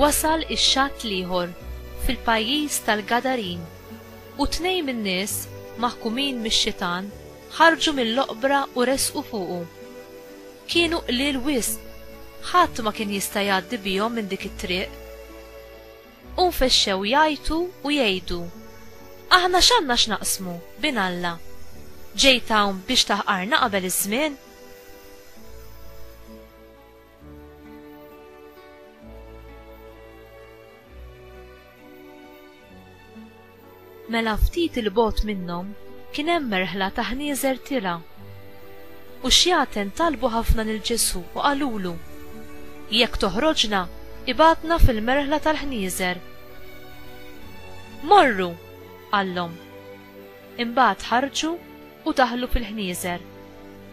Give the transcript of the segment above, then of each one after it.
Wasal ix-xatt l-ieħor fil-pajjiż tal-Gadarin, u tnejn min-nies, maħkumin mix-xitan, ħarġu mill-oqbra u resqu fuqu. Kienu qliel wisq, ħadd ma kien jista' jgħaddi bihom minn dik it-triq. U nfexxew jgħajtu u jgħidu, Aħna x'għandna x'naqsmu bin Alla? Ġejt hawn biex taħqarna qabel iż-żmien? Mela ftit 'il bogħod minnhom kien hemm merħla ta' ħnieżer tirha. U xjaten talbu ħafna lil Ġesù u qalulu, Jekk toħroġna, ibgħatna fil-merħla tal-ħnieżer. Morru! qallhom. Imbagħad ħarġu u daħlu fil-ħnieżer,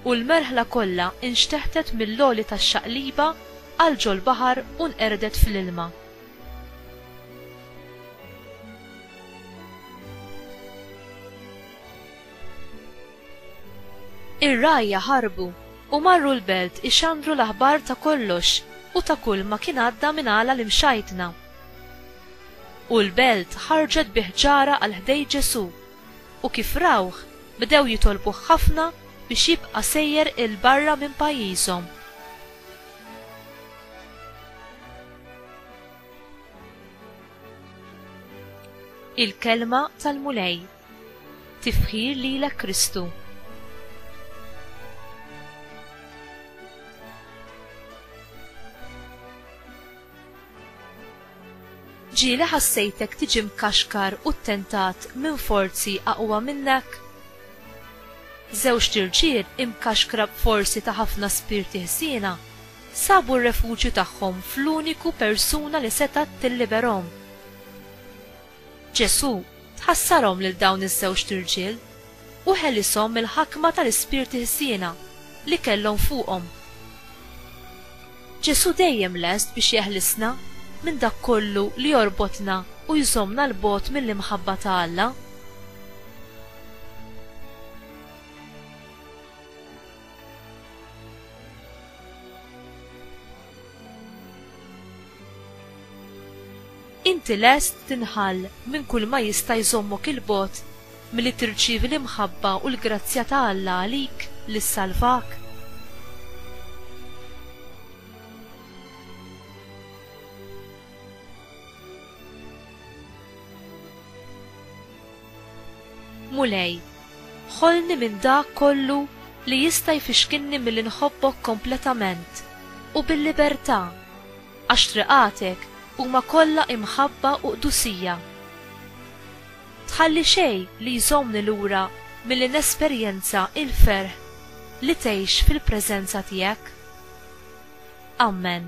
u l-merħla kollha nxteħtet mill-għoli tax-xaqliba għal ġol-baħar u nqerdet fl-ilma. Ir-rgħajja ħarbu u marru l-belt ixandru l-aħbar ta' kollox u ta' kulma kien għadda minn għala l-imxajtna. U l-belt ħarġet bi ħġarha għal ħdejn Ġesù, u kif rawh, bdew jitolbuh ħafna biex jibqa' sejjer 'il barra minn pajjiżhom. Il-kelma tal-Mulej. Tifħir lilek Kristu. Ġieli ħassejtek tiġi mkaxkar u ttentat minn forzi aqwa minnek? Żewġt irġiel imkaxkra b'forzi ta' ħafna spirti ħsiena Sabu r-refuġju tagħhom fl-uniku persuna li setgħet tilliberhom. Ġesù tħassarhom lil dawn iż-żewġt irġiel u ħelishom mill-ħakma tal-ispirti ħżiena li kellhom fuqhom. Ġesù dejjem lest biex jeħlisna minn dak kollu li jorbotna u jżommna 'l bogħod mill-imħabba ta' Alla. Inti lest tinħall minn kulma jista' jżommok 'il bogħod milli tirċievi l-imħabba u l-grazzja ta' Alla għalik li ssalvak? Mulej, ħolni minn dak kollu li jista' jfixkilni milli nħobbok kompletament u bil-libertà, għax triqatek huma kollha imħabba u qdusija. Tħalli xejn li jżommni lura milli nesperjenza l-ferħ li tgħix fil-preżenza tiegħek. Amen.